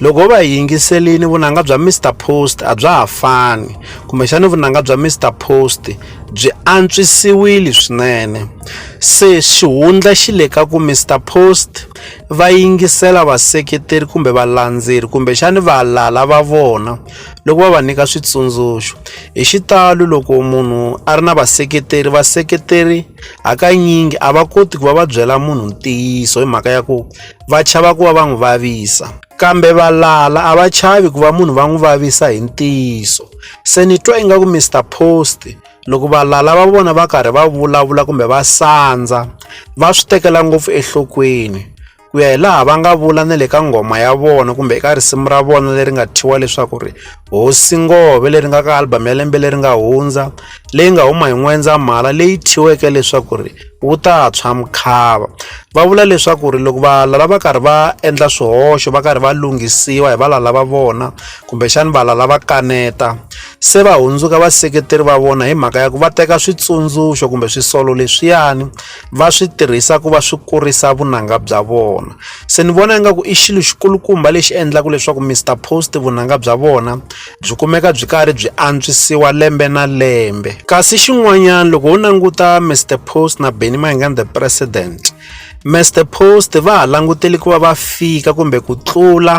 loko ho va hi yingiselini vunanga bya mr post a bya ha fani kumbexani vunanga bya mr post byi antswisiwile swinene se xihundla xi le ka ku mr post va yingisela vaseketeri kumbe valandzeri kumbexani valala va vona loko va va nyika switsundzuxo hi xitalo loko munhu a ri na vaseketeri vaseketeri hakanyingi a va koti ku va va byela munhu ntiyiso hi mhaka ya ku va chava ku va va n'wi vavisa kambe valala a va chavi ku va munhu va n'wi vavisa hi ntiyiso se ni twa ingaku mr post loko valala va vona va karhi va vulavula kumbe va sandza va swi tekela ngopfu enhlokweni ku ya hi laha va nga vula na le ka nghoma ya vona kumbe eka risimu ra vona leri nga thyiwa leswaku ri hosi ngove leri nga ka album ya lembe leri nga hundza leyi nga huma hi n'wendzamhala leyi thyiweke leswaku ri wu ta tshwa mukhava va vula leswaku ri loko valala lava karhi va endla swihoxo va karhi va lunghisiwa hi valala va vona kumbexani valala va kaneta se va hundzuka vaseketeri va vona hi mhaka ya ku va teka switsundzuxo kumbe swisolo leswiyani va swi tirhisa ku va swi kurisa vunanga bya vona se ni vona ingaku i xilo xikulukumba lexi endlaka leswaku Mister Post vunanga bya vona byi kumeka byi karhi byi antswisiwa lembe na lembe kasi xin'wanyana loko ho languta mr post na benny mayengani the president Mr Post va ha langutele ku va va fika kumbe ku tlula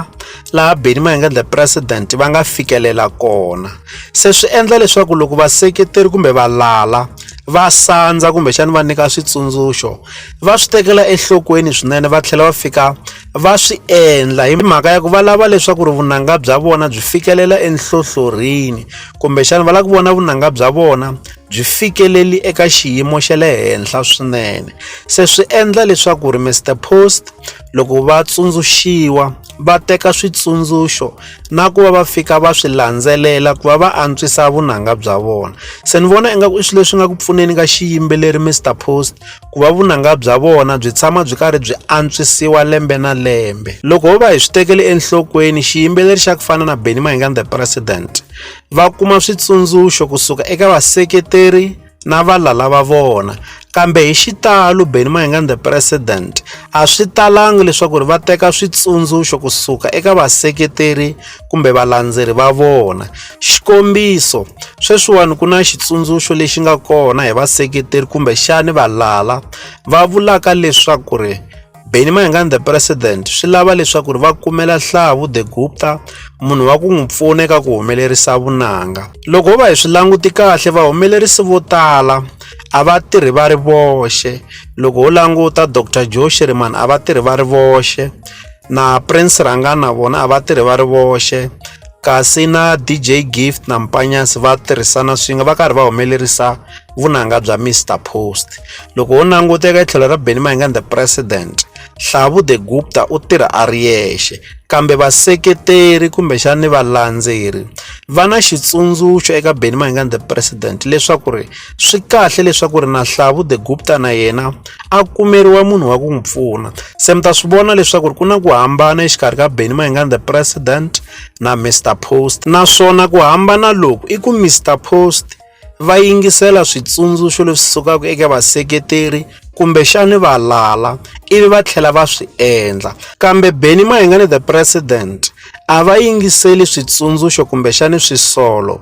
laha Benny Mayengani the president va nga fikelela kona se swi endla leswaku loko vaseketeri kumbe valala va sandza kumbexani va nyika switsundzuxo va swi tekela enhlokweni swinene va tlhela va fika va swi endla hi mhaka ya ku va lava leswaku ri vunanga bya vona byi fikelela enhlohlorini kumbexana va lava ku vona vunanga bya vona byi fikeleli eka xiyimo xa le henhla swinene se swi endla leswaku ri Mr Post loko va tsundzuxiwa va teka switsundzuxo na ku va va fika va swi landzelela ku va va antswisa vunanga bya vona se ni vona ingaku i swilo leswi nga ku pfuneni ka xiyimbeleri Mr Post ku va vunanga bya vona byi tshama byi karhi byi antswisiwa lembe na lembe loko ho va hi swi tekeli enhlokweni xiyimbeleri xa ku fana na benny mahingani the president va kuma switsundzuxo kusuka eka vaseketeri na valala va vona kambe hi xitalo benny mahingani the president a swi talangi leswaku ri va teka switsundzuxo kusuka eka vaseketeri kumbe valandzeri va vona. Xikombiso, sweswiwani ku na xitsundzuxo lexi nga kona hi vaseketeri kumbe xani valala va vulaka leswaku ri Benny Mayengani the president swi lava leswaku ri va kumela Hlavu the Gupta munhu wa ku n'wi pfuna eka ku humelerisa vunanga. Loko ho va hi swi languti kahle vahumelerisi vo tala a va tirhi va ri voxe loko ho languta Dr Joe Shirimani a va tirhi va ri voxe na Prince Ranga na vona a va tirhi va ri voxe kasi na DJ Gift na Mpanyasi va tirhisana swin'we va karhi va humelerisa vunanga bya Mr Post loko ho languta eka tlhelo ra Benny Mayengani the president Hlavu the Gupta u tirha a ri yexe kambe vaseketeri kumbexani valandzeri va na xitsundzuxo eka Benny Mayengani the president leswaku ri swi kahle leswaku ri na hlavu the gupta na yena a kumeriwa munhu wa ku n'wi pfuna se mi ta swi vona leswaku ri ku na ku hambana exikarhi ka benny mayengani the president na mr post naswona ku hambana loku i ku mr post va yingisela switsundzuxo leswi sukaka eka vaseketeri kumbexani va lala ivi va tlhela va swi endla kambe benny mayengani the president a va yingiseli switsundzuxo kumbexani swisolo